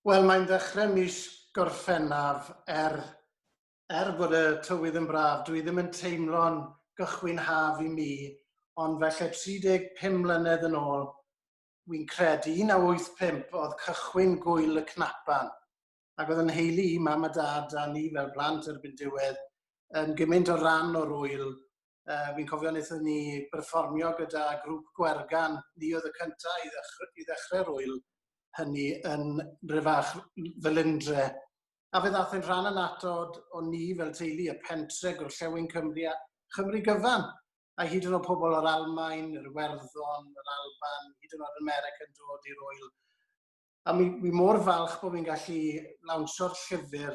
Wel, mae'n ddechrau mis Gorffennaf, er, er bod y tywydd yn braf, dwi ddim yn teimlo'n gychwyn haf i mi, ond felly 35 mlynedd yn ôl, wy'n credu, 1985 oedd cychwyn gwyl y cnapan. ac oedd yn nheulu i, mam a dad a ni fel plant erbyn diwedd, yn gymaint o ran o'r wyl. Uh, fi'n cofio wnaethon ni berfformio gyda grŵp Gwergan, ni oedd y cyntaf i ddechrau, i ddechrau'r wyl hynny yn rhyfach Felindre. A fe ddath yn rhan anatod o ni fel teulu y pentre gorllewin Cymru a Chymru gyfan a hyd yn oed pobl o'r Almain, yr Iwerddon, yr Alban, hyd yn oed America yn dod i'r oel. A mi, mi mor falch bod fi'n gallu lawnsio'r llyfr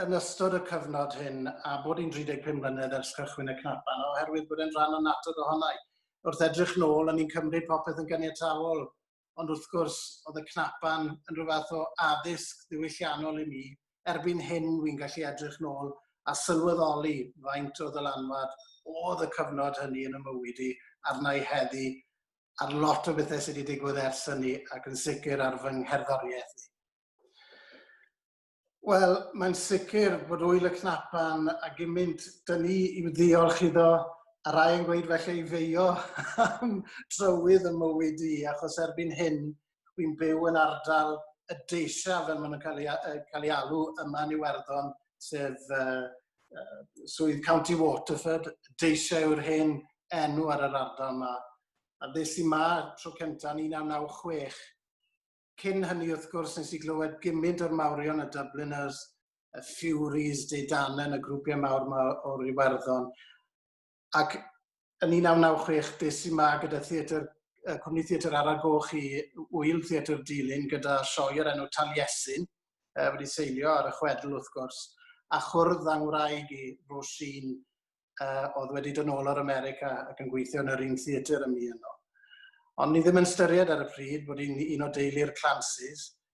yn ystod y cyfnod hyn a bod hi'n 35 mlynedd ers cychwyn y cnapan oherwydd bod e'n rhan o natur ohona i. Wrth edrych nôl, o'n i'n cymryd popeth yn ganiatawol, ond wrth gwrs, oedd y cnapan yn rhyw fath o addysg ddiwylliannol i mi. Erbyn hyn, wy'n gallu edrych nôl a sylweddoli faint o ddylanwad oedd y cyfnod hynny yn y mywyd i arna i heddi ar lot o bethau sydd wedi digwydd ers hynny ac yn sicr ar fy ngherddoriaeth i. Wel, mae'n sicr bod wyl y cnapan a gymaint dyn ni i'w ddiolch iddo, a rai yn gweud felly i feio am trywydd y mywyd i, achos erbyn hyn, Dwi'n byw yn ardal y deisa fel maen nhw'n cael ei, uh, cael ei alw yma yn Iwerddon, sef uh, uh, swydd County Waterford. Deisa yw'r hen enw ar yr ardal yma. A ddes i ma tro cyntaf yn 1996. Cyn hynny, wrth gwrs, nes i glywed gymint o'r mawrion, y Dubliners, y Furies, Deidanen, y grwpiau mawr yma o'r Iwerddon. ac yn 1996 des i 'ma gyda theatr yy Cwmni Theatr Ara Goch i Ŵyl Theatr Dulyn gyda sioe o'r enw Taliesin yy wedi seilio ar y chwedl wrth gwrs a chwrdd â ngwraig i Roisin yy oedd wedi dod nôl o'r America ac yn gweithio yn yr un theatr â mi yno. Ond ni ddim yn ystyried ar y pryd bod hi'n un o deulu'r Clancy's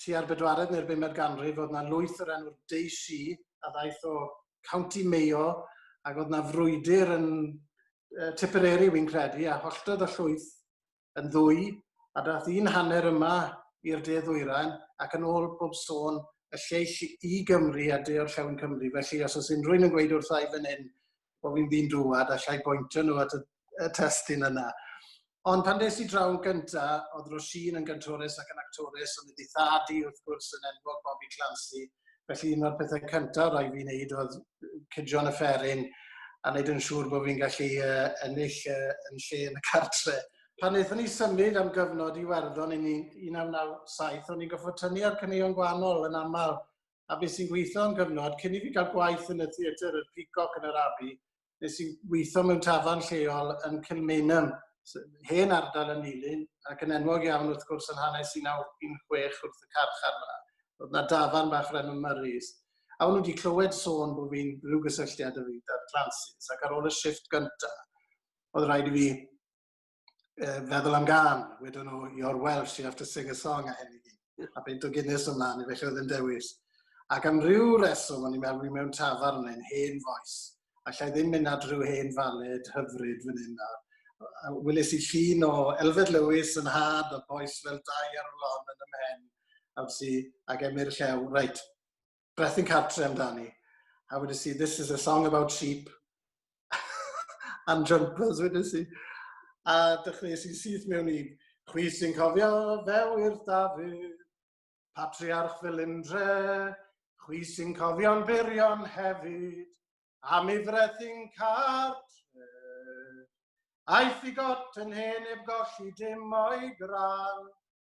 tua'r bedwaredd neu'r bumed ganrif, oedd na lwyth o'r enw'r Deisi, a ddaeth o County Mayo, ac oedd na frwydr yn uh, Tipperary, wy'n credu, a holltodd y llwyth yn ddwy, a dath un hanner yma i'r de ddwyrain, ac yn ôl bob sôn, y lleill i Gymru a de o'r llewn Cymru. Felly, os oes unrhyw'n yn gweud wrtha i fan hyn, bod fi'n ddyn dŵad, allai bointio nhw at y, y testyn yna. Ond pan des i draw yn gynta, oedd Roisin yn gyntores ac yn actores, ond ydi thad i wrth gwrs yn enwog Bobby Clancy, felly un o'r pethau cyntaf rai fi'n neud oedd cydio'n y fferin a wneud yn siŵr bod fi'n gallu uh, ennill uh, yn lle yn y cartre. Pan wnaethon ni symud am gyfnod i Werddon yn 1997, o'n i'n goffod tynnu ar cyneuon gwahanol yn aml a bues i'n gweithio am gyfnod cyn i fi gael gwaith yn y theatr y Peacock yn yr Abbey, nes i weithio mewn tafarn lleol yn Kilmainham, hen ardal yn Nulyn, ac yn enwog iawn wrth gwrs yn hanes 1916 wrth y carchar 'ma. Roedd 'na dafarn bach o'r enw Murray's. A o'n nhw wedi clywed sôn bod fi'n rhyw gysylltiad o fi 'da'r Clancy's, ac ar ôl y shift gyntaf, oedd rhaid i fi uh, feddwl am gan, wedyn nhw, you're Welsh, you have to sing a song a hyn i gyd. A beint o Guinness ymlaen, i felly oedd yn dewis. Ac am ryw reswm, o'n i'n meddwl, mewn tafarn yn hen foes. Alla i ddim mynd at rhyw hen faled hyfryd fan hyn nawr. Wylis i llun o Elfed Lewis yn had o boes fel dau ar y lon yn ymhen. Am si, ac emyr llew, reit, beth yn cartre amdani. A wedi si, this is a song about sheep and jumpers wedi si. A dechreuais i syth mewn i chwi sy'n cofio fe wir Dafydd, patriarch fel undre, chwi sy'n cofio'n byrion hefyd, am i frethu'n cartre. Aeth i got yn hen eb golli dim o'i gran,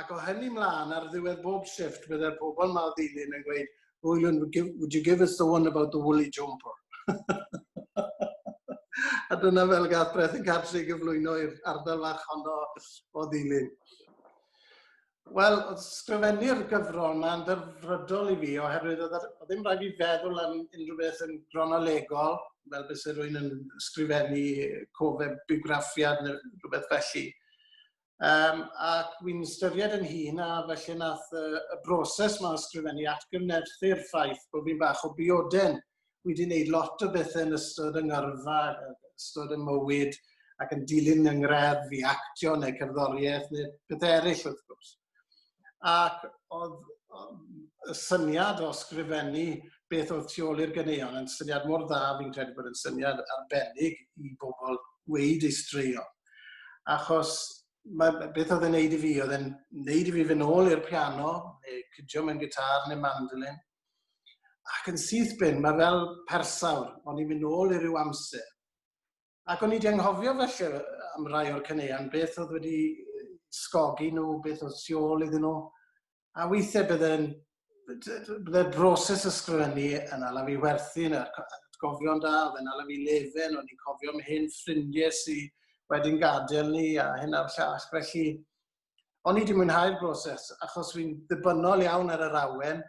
ac o hynny mlaen ar ddiwedd bob shift bydde'r pobl ma o ddilyn yn gweud, Rwylan, would you give us the one about the woolly jumper? a dyna fel gath Breth yn Cartri gyflwyno i'r ardal fach honno o ddilyn. Wel, oedd sgrifennu'r gyfrol yma'n ddyfrydol i fi, oherwydd oedd ddim rhaid i feddwl am unrhyw beth yn gronolegol, fel bys rwy'n yn sgrifennu cofeb biwgraffiad neu rhywbeth felly. Um, ac wy'n styried yn hun a felly nath y, y broses mae ysgrifennu atgyfnerthu'r ffaith bod fi'n bach o bioden. Wy wedi gwneud lot o bethau yn ystod yng ngyrfa, ystod y mywyd, ac yn dilyn yng ngreddf i actio neu cerddoriaeth neu pethau eraill wrth gwrs. ac oedd yy y syniad o sgrifennu beth oedd tu ôl i'r ganeuon yn syniad mor dda, fi'n credu bod yn syniad arbennig i bobl weud ei straeon. Achos mae, beth oedd e'n neud i fi? Oedd e'n neud i fi fy nôl i'r piano, neu cydio mewn gitar neu mandolin. Ac yn syth bin, mae fel persawr, o'n i'n mynd nôl i ryw amser Ac o'n i wedi anghofio felly am rai o'r caneuon, beth oedd wedi sgogi nhw, beth oedd tu ôl iddyn nhw. A weithiau byddai'n byddai'r broses ysgrifennu yn ala fi werthu yn atgofion da, oedd yn ala fi lefen, o'n i'n cofio am hyn ffrindiau sy'n wedyn gadael ni a hyn a'r llall. Felly, o'n i wedi mwynhau'r broses achos fi'n ddibynnol iawn ar yr awen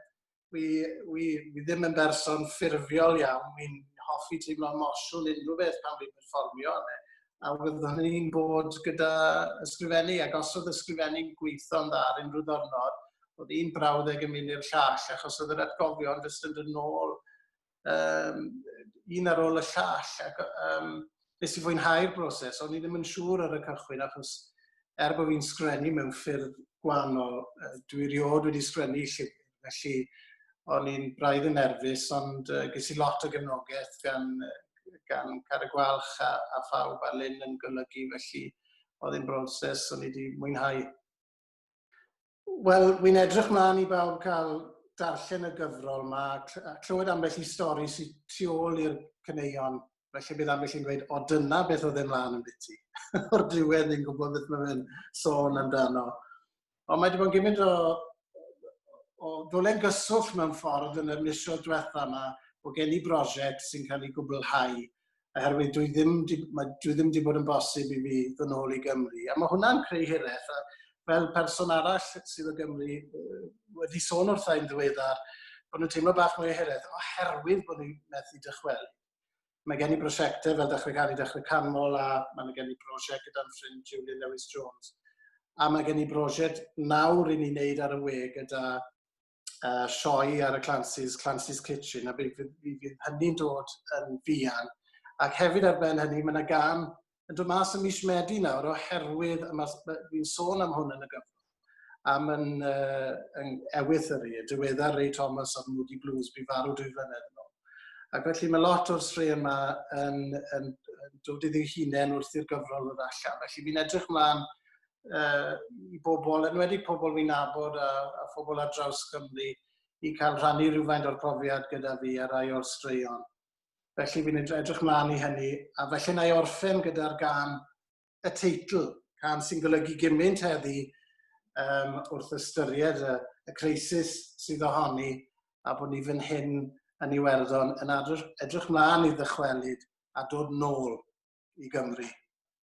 wi, wi, wi ddim yn berson ffurfiol iawn, wi'n hoffi teimlo mosiwn unrhyw beth pan fi'n perfformio, a wyddwn ni'n bod gyda ysgrifennu, ac os oedd ysgrifennu'n gweithio'n dda ar unrhyw ddornod, oedd un brawddeg yn mynd i'r llall, achos oedd yr atgofion jyst yn dod nôl um, un ar ôl y llall. Ac, um, nes i fwynhau'r broses, o'n i ddim yn siŵr ar y cychwyn, achos er bod fi'n sgrennu mewn ffyrdd gwahanol, dwi riod wedi sgrennu llyfr, felly o'n i'n braidd yn nerfus, ond uh, ges i lot o gefnogaeth gan, gan Car y Gwalch a, a phawb a Lynn yn golygu, felly oedd yn broses o'n i wedi mwynhau. Wel, wi'n edrych mlaen i bawb cael darllen y gyfrol yma, a clywed ambell i stori sy'n tu ôl i'r caneuon, felly bydd ambell i'n gweud, o dyna beth oedd e'n mlaen yn biti. O'r diwedd ni'n gwybod beth mae fe'n sôn amdano. Ond mae wedi bod yn gymryd o, o ddolen gyswllt mewn ffordd yn y misoedd diwetha yma, bod gen i brosiect sy'n cael ei gwblhau oherwydd dwi ddim di, mae, dwi ddim wedi bod yn bosib i fi ddod nôl i Gymru. A mae hwnna'n creu hiraeth. A fel person arall sydd o Gymru wedi sôn wrtha i'n ddiweddar, bod nhw'n teimlo bach mwy o hiraeth oherwydd bod nhw'n methu dychwel. Mae gen i brosiectau fel Dechrau Cael i Dechrau Canmol a mae gen i brosiect gyda'n ffrind Julian Lewis Jones. A mae gen i brosiect nawr i ni wneud ar y we gyda yy sioe ar y Clancy's, Clancy's Kitchen, a fe fydd fe fydd hynny'n dod yn fuan. Ac hefyd ar ben hynny, mae yna gam yn dod mas ym mis Medi nawr oherwydd y mas- ma- fi'n sôn am hwn yn y gyfnod am yn, uh, yn ewyth yr e, diweddar Ray Thomas o'r Moody Blues, bu farw dwy flynedd yn ôl. Ac felly mae lot o'r straeon yma yn, yn, yn dod iddi hunain wrth i'r gyfrol ddod allan. Felly fi'n edrych mlaen uh, i bobl, yn wedi pobl fi'n nabod a, a phobl ar draws Cymru, i cael rhannu rhywfaint o'r profiad gyda fi a rai o'r straeon. Felly fi'n edrych mlaen i hynny, a felly na i orffen gyda'r gan y teitl, gan sy'n golygu gymaint heddi um, wrth ystyried y, y creisis sydd ohoni a bod ni fan hyn yn Iwerddon yn edrych mlaen i ddychwelyd a dod nôl i Gymru.